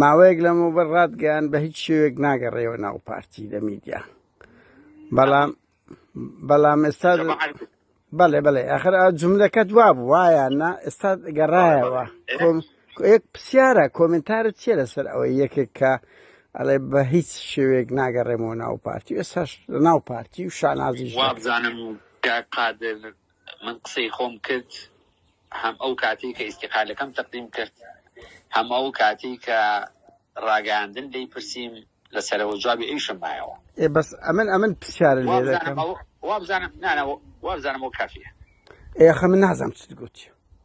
ماوەیەک لەمە بەر ڕاتگەیان بە هیچ شێوێک ناگەڕێەوە ناو پارتی لە میدیا بەڵام بەڵام ئێستا بەڵێ بەڵێ ئەخر جملەکەت وا بوو وایە نا ئێستا گەڕایەوە یەک پرسیارە کۆمنتارت چیە لەسەر ئەوەی یەکێک کە ئەڵێ بە هیچ شێوێک ناگەڕێمەوە ناو پارتی ئێستا ناو پارتی و شانازی وابزانم قادر من قسەی خۆم کرد هەم ئەو کاتەی کە ئیسیقالەکەم تەقدیم کرد هەم ئەو کاتی کە ڕاگەاندن دەی پرسییم لە سەرەوە جوابی ئەویشم مایەوە ئێ بەس ئەمن ئەمن پرسیار لێ دەکەم وابزانم وابزانم وابزانم وابزانم وەک کافیە ئێ ئەخە من نازانم چت گوتی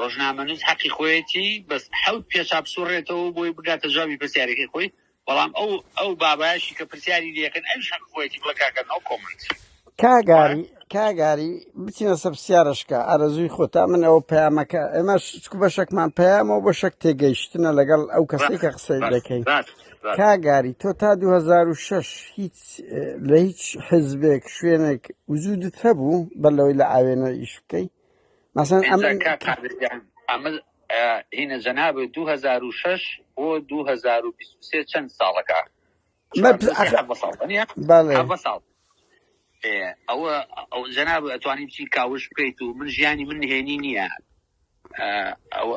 ڕۆژنامەنووس حەقی خۆیەتی بەس حەوت پێچا بسوڕێتەوەو بۆی بگاتە جوابی پرسیارەکەی خۆی بەڵام ئەو ئەو بابایەشی کە پرسیاری لێکەن ئەویش حەقی خۆیەتی بڵێ کاکە نۆ کۆمنت. کاگاری کاگاری بچینە سەر پرسیارەشکە ئارەزووی خۆتە من ئەوە پەیامەکە ئێمەش چکو بەشەکمان پەیامەوە بە شەک تێگەیشتنە لەگەڵ ئەو کەسەی کە قسەی بەس دەکەین بەس بەس کاگاری تۆ تا 2006 هیچ اه، لە هیچ حزبێک شوێنێک وجودت هەبوو بەر لەوەی لە ئاوێنە ئیش بکەی مەسەن ئەمە هینە جەناب 2006 بۆ 2023 چەند ساڵەکە ساڵ ئەوە ئەو جەناب ئەتوانی بچی کاوش بکەیت و من ژیانی من نهێنی نییە ئەوە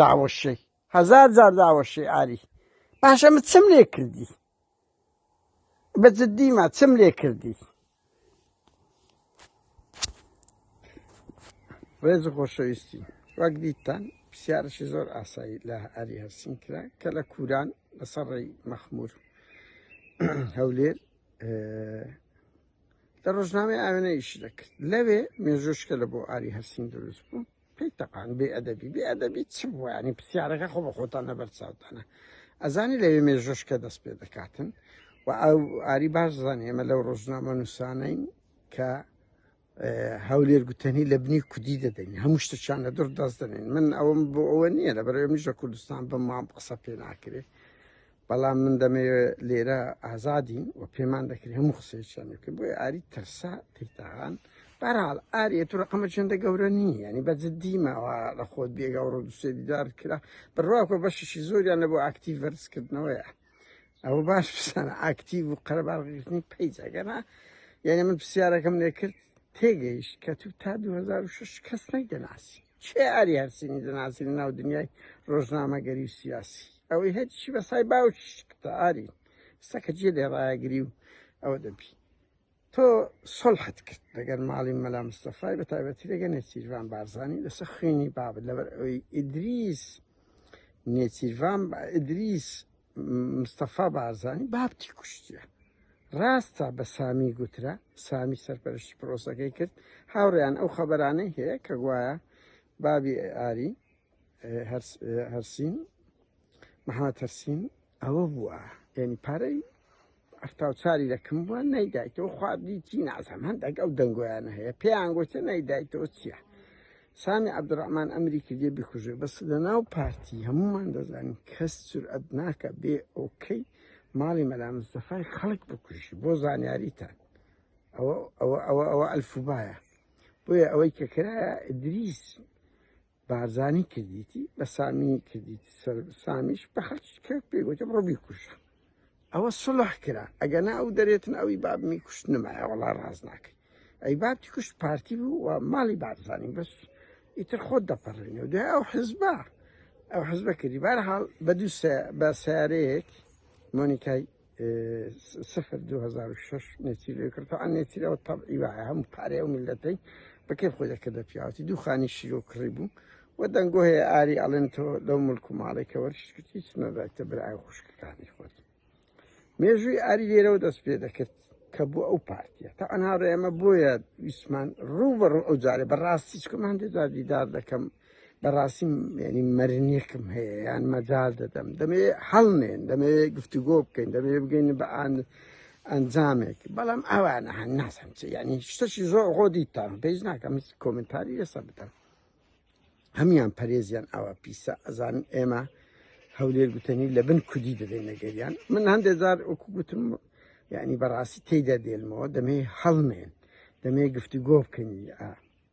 داوەشێی هەزار جار داوەشێی ئاری باشە من چم لێ کردی بە جدیمە چم لێ کردی ڕێز و خۆشەویستی وەک دیتان پرسیارشی زۆر ئاسایی لە ئاری هەرسین کرا کە لە کوران لەسەر ڕێی مەخمور هەولێر لە ڕۆژنامەی ئاوێنە ئیش دەکرد لەوێ مێژۆشکە لە بۆ ئاری هەرسین دروست بوو پێی تەقان بێ ئەدەبی بێ ئەدەبی چ بووە ینی پرسیارەکە خۆ بە خۆتان لەبەر چاوتانە ئەزانی لەوێ مێژۆشکە دەست پێ دەکاتن و ئەو ئاری باش زانانی ئێمە لەو ڕۆژنامە نووسانین کە هەولێر گوتەنی لە بنی کودی دەدەین هەموو شتەکیان لە دور دەست دەنێن من ئەوم بۆ ئەوە نییە لە بەرەوە میژە کوردستان بە مام قسە پێ ناکرێت بەڵام من دەمەوێ لێرە ئازادین و پێمان دەکرێت هەموو قسەیەکیان بکە بۆی ئاری ترسا تیتاغان بەرحاڵ ئاریە تو ڕقەمە چنددە گەورە نی ینی بە جددیمەوە لە خۆت بێگە ڕۆ دوسێ دیدار کرا بڕواکە بەشیشی زۆریان لە بۆ ئاکتیڤ ڤەرزکردنەوەیە ئەوە باش بسانە ئاکتیڤ و قەرەباڵگرتنی پیجەگەنا یعنی من پرسیارەکەم لێ کرد تێگەیش کە تو تا 2006 کەس نەی دەناسی کێ ئاری هەرسینی دەناسی لە ناو دنیای ڕۆژنامەگەری و سیاسی ئەوەی هەرچی بە سای باوکی کتە ئاری سەکە جێ لێ ڕایەگری و ئەوە دەبی تۆ سڵحت کرد لەگەر ماڵی مەلا مستەفای بە تایبەتی لەگە نێچیرڤان بارزانانی لەسەر خوێنی بابت لەبەر ئەوی ئیدریس نێچیرڤان ئیدریس مستەفا بارزانی بابتی کوشتە ڕاستە بە سامی گوترا سامی سەرپەرشتی پرۆسەکەی کرد هاوڕیان ئەو خەبەرانەی هەیە کە گوایە بابی ئاری هەرسین محمد هەرسین ئەوە بووە یعنی پارەی هەفتا و چاری دەکم بووە نەیدایتەوە خوابدی چی نازم هەندێک ئەو دەنگۆیانە هەیە پێیان گوتە نەیدایتەوە چییە سامی عبدڕحمان ئەمری کردێ بکوژێ بەس لە ناو پارتی هەمومان دەزانین کەس سرعەت ناکە بێ ئۆکەی ماڵی مەلامستەفای خەڵک بکوژی بۆ زانیاریتان ئەوە ئەوە ئەوە ئەوە ئەلفوبایە بۆیە ئەوەی کە کرایە دریس بارزانی کردیتی بە سامی کردیتی سەر سامیش بە خەڵکی کە پێگوتم ڕۆبی کوشە ئەوە سڵح کرا ئەگە نا ئەو دەرێتن ئەوی بابمی کوشت نمایە وڵا ڕاز ناکەی ئەی بابتی کوشت پارتی بوو و ماڵی بارزانانی بەس ئیتر خۆت دەپەڕێنێ و دوای ئەو حزبە ئەو حزبە کردی بارحاڵ بە دوو بە سیارەیەک مۆنیکای سفر دو هەزار و شەش نێچیرەوەی کرد تەعا نێچیرەوە تەبعی وایە هەموو پارەیە و میلەتەی بە کەی خۆی دەکردە پیاوەتی دوو خانی شیرۆ کڕی بوو و دەنگۆ هەیە ئاری ئەڵێن تۆ لەو ملک و ماڵێکەوە شکت هیچ نەدایتە برای خوشکەکانی خۆت مێژووی ئاری لێرەوە دەست پێ دەکرد کە بۆ ئەو پارتیە تا ئەنها ئێمە بۆیە ویسمان ڕوو بە ڕوو ئەو جارێ بەڕاستی چکەمان دێدا دیدار دەکەم لە ڕاستی ینی مەرنیەکم هەیە یان مەجار دەدەم دەمێ هەڵنێن دەمێ گفتوگۆ بکەین دەمێ بگەین بە ئاان ئەنجامێک بەڵام ئەوانە هەن ناسم چ ینی شتەشی زۆر خۆ دیتان پێیز ناکەم کۆمنتاری لەسەر بدەم هەمان پەرێزیان ئەوە پیسە ئەزان ئێمە هەولێر گوتنی لە بن کودی دەدەین نەگەریان من هەندێک جار ئۆکو گوتم یعنی بەڕاستی تێدا دێنمەوە دەمێ هەڵمێن دەمێ گفتوگۆ بکەنی ئا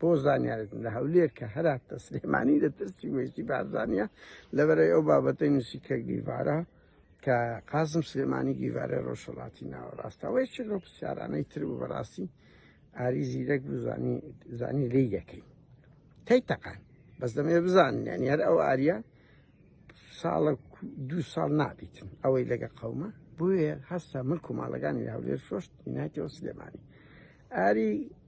بۆ زانیارتن لە هەولێر کە هەراتە سلێمانی لە ترسی وێستی بارزانە لەبەرەی ئەو بابەتەی نووسی کە گیڤارە کە قازم سلێمانی گیڤارە ڕۆژهڵاتی ناوەڕاستەوەی چ لەو پرسیارانەی تر و بەڕاستی ئاری زیرەک بزانی زانی لی یەکەی تەی تەقان بەس دەمێ بزانیان یار ئەو ئاریا ساڵە دوو ساڵ نابیتن ئەوەی لەگە قەومە بۆیە هەستا ملک و ماڵەکانی هەولێر شۆشت ناتەوە سلێمانی ئاری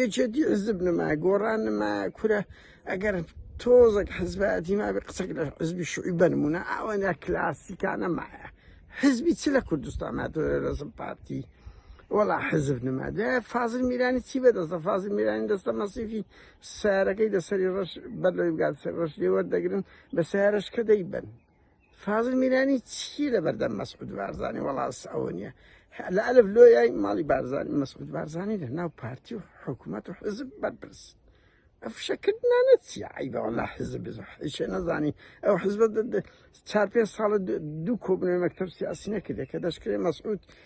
یەکێتی حزب نما گۆڕان نما کورە ئەگەر تۆزەک حزبایەتی مابێ قسەک لە حزبی شوعی بەرمونە ئەوەنە کلاسیکانە مایە حزبی چ لە کوردستان ناتۆێ لەزم پارتی وەڵا حزب نما دە فازل میرانی چی بەدەستە فازل میرانی دەستە مەسیفی سارەکەی دەسەری ڕەش بەر لەوی بگات سەر ڕەش لێوەردەگرن بە سارەش کە دەیبن فازل میرانی چی لە بەردەم مەسعود بارزانانی وڵاس ئەوە نیە لە ئەلف لۆیای ماڵی بارزانانی مەسعود بارزانانی لە ناو پارتی و حکوومەت و حزب بەرپرس ئەفشەکردنانە چی عیبە وڵا حزب بزحیشە نەزانی ئەو حزب چار پێ ساڵە دوو کۆبنەوەی مەکتب سیاسی نەکردێت کە دەشکرێت مەسعود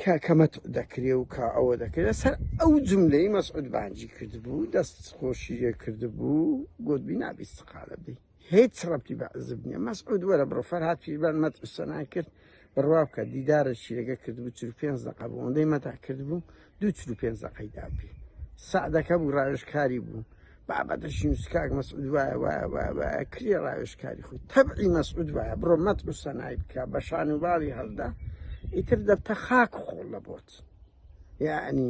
کە کە مەتع دەکرێ و کە ئەوە دەکرێ لەسەر ئەو جملەی مەسعود بانجی کردبوو دەست خۆشی لێ کردبوو گوتبی نابی استقالە بدەی هیچ ڕەبتی بە عزب نییە مەسعود وەرە بڕۆ فەرهاد پیربان مەتع سەنای کرد بڕوا بکە دیدارەشی لەگە کردبوو چل پێنج دەقە بوو ئەوەندەی مەتع کردبوو دوو چل پێنج دەقەی دابی سەعدەکە بوو ڕاوێژکاری بوو بابە دەژین و سکاک مەسعود وایە وایە وایە وایە کری ڕاوێژکاری خۆی تەبعی مەسعود وایە بڕۆ مەت و سەنای بکە بە شان و باڵی هەڵدا ئیتر دەبتە خاک خۆڵ لە بۆت یعنی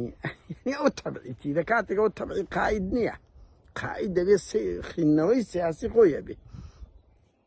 ئەو تەبعیتی لە کاتێکەوە تەبعی قاید نییە قاید دەبێت خوێندنەوەی سیاسی خۆیە بێ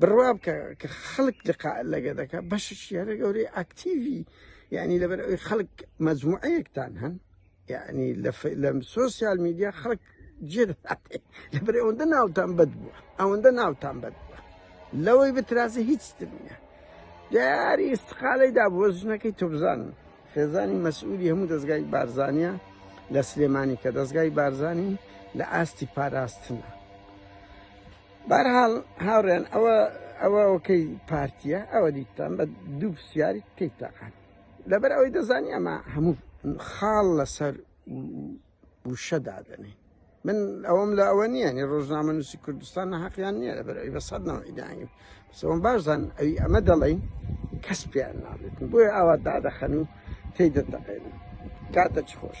بڕوا بکە کە خەڵک لقا لەگە دەکە بەشش یارە گەورەی ئاکتیوی یعنی لەبەر ئەوی خەڵک مەجموعەیەکتان هەن یعنی لەم سوسیال میدیا خەڵک جێ لەبەر ئەوەندە ناوتان بەد بووە ئەوەندە ناوتان بەد بووە لەوەی بترازە هیچ نیە دیاری استقالەی دا بۆ ژنەکەی تۆبزان خێزانی مەسئولی هەموو دەستگای بارزانە لە سلێمانی کە دەستگای بارزانین لە ئاستی پاراستنە بەرحاڵ هاوڕێن ئەوە ئەوە ئەوکەی پارتیە ئەوە دیتان بە دوو پرسیاری تێک تاقان لەبەر ئەوەی دەزانی ئەمە هەموو خاڵ لەسەر وشە دادەنێ من ئەوەم لە ئەوە نییە نی ڕۆژنامە نووسی کوردستان نەحقیان نییە لە بەرەوەی بە سەد نەوەیدانیم سەوەم باشدان ئەوی ئەمە دەڵین کەس پێیان نابێت بۆیە ئاوا دادەخەن و تێی دەتەقێنن کاتە چ خۆش.